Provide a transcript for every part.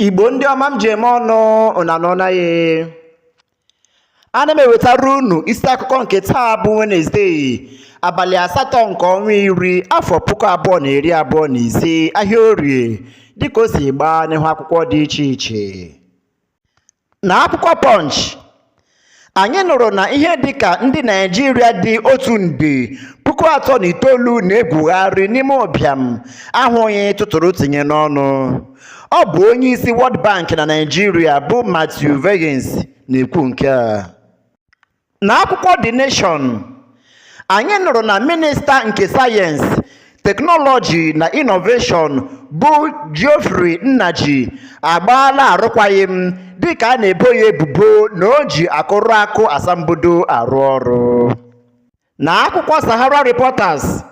Igbo ndị ọma m ji eme ọnụ unu anọna ya ana m ewetara unu isi akụkọ nke taa bụ Wenezde abalị asatọ nke ọnwa iri afọ puku abụọ na iri abụọ na ise ahịa orie dịka o si gbaa n'ihu akwụkwọ dị iche iche Na akwụkwọ Punch, anyị nụrụ na ihe dịka ndị Naịjirịa dị otu nde puku atọ na itoolu na-egwugharị n'ime ụbịam ahụghị tụtụrụ tinye n'ọnụ. Ọ bụ onye isi World Bank na Naịjirịa bụ Matthew Verghis na-ekwu nke a. Na akwụkwọ The Nation, anyị nụrụ na minista nke sayensị, teknọlọji na ịnọveshọn bụ Geoffrey Nnaji agbaala arụkwaghịm dịka a na-ebo ya ebubo na o ji akụrụ akụ asambodo arụ ọrụ. Na akwụkwọ Sahara Reporters,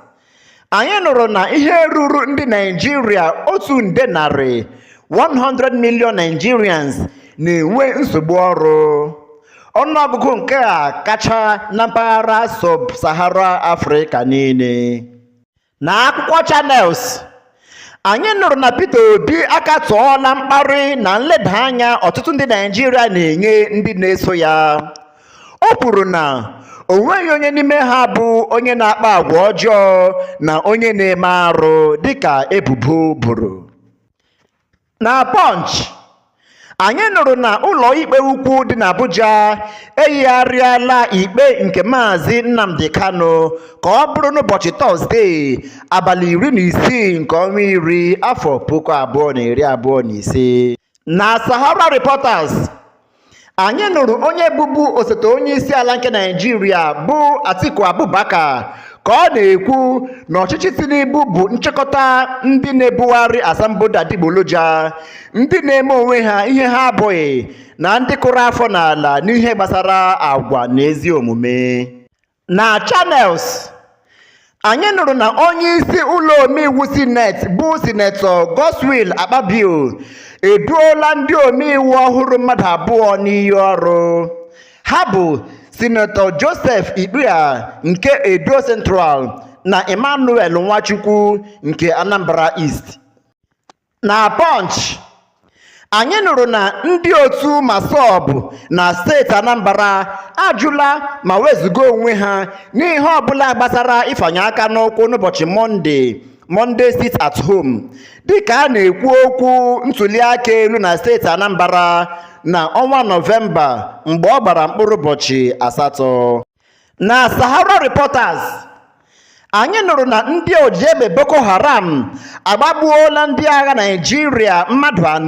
anyị nụrụ na ihe ruru ndị naijiria otu nde narị 100 million nigerians na-enwe nsogbu ọrụ ọnụọgụgụ nke a kacha na mpaghara sub-sahara afrịka niile na akwụkwọ channels anyị nụrụ na Peter Obi akatọọla mkparị na nleda anya ọtụtụ ndị Naịjirịa na-enye ndị na-eso ya o kwuru na o nweghị onye n'ime ha bụ onye na-akpa agwa ọjọọ na onye na-eme arụ dịka ebubo boro Na Punch, anyị nụrụ na ụlọikpe ukwu dị n'Abuja eyigharịala ikpe nke Maazị Nnamdi Kanu ka ọ bụrụ n'ụbọchị Tọzdee abalị iri na isii nke ọnwa iri afọ puku abụọ na iri abụọ na ise. Na Sahara Reporters anyị nụrụ onye bụbu osote onye isi ala nke naijiria bụ atiku abubakar ka ọ na-ekwu na ọchịchị tinubu bụ nchịkọta ndị na-ebugharị asambodo adịgboloja ndị na-eme onwe ha ihe ha abụghị na ndị kụrụ afọ n'ala n'ihe gbasara agwa na ezi omume Na Channels, anyị nụrụ na onye isi ụlọ omeiwu sineti bụ sinetọ Godswill Akpabio eduola ndị omeiwu ọhụrụ mmadụ abụọ n'iyi ọrụ ha bụ sinetọ Joseph Ikpea nke Edo Central na Emmanuel Nwachukwu nke Anambra East Na Punch, anyị nụrụ na ndị otu MASSOB na steeti Anambra ajụla ma wezụga onwe ha n'ihe ọbụla gbasara ịfanye aka n'ụkwụ n'ụbọchị Mọnde Monday sit at home dịka a na-ekwu okwu ntuliaka elu na steeti Anambra na ọnwa Nọvemba mgbe ọ gbara mkpụrụ ụbọchị asatọ na Sahara Reporters anyị nụrụ na ndị ojiegbe Boko Haram agbagbuola ndị agha Naịjirịa mmadụ anọ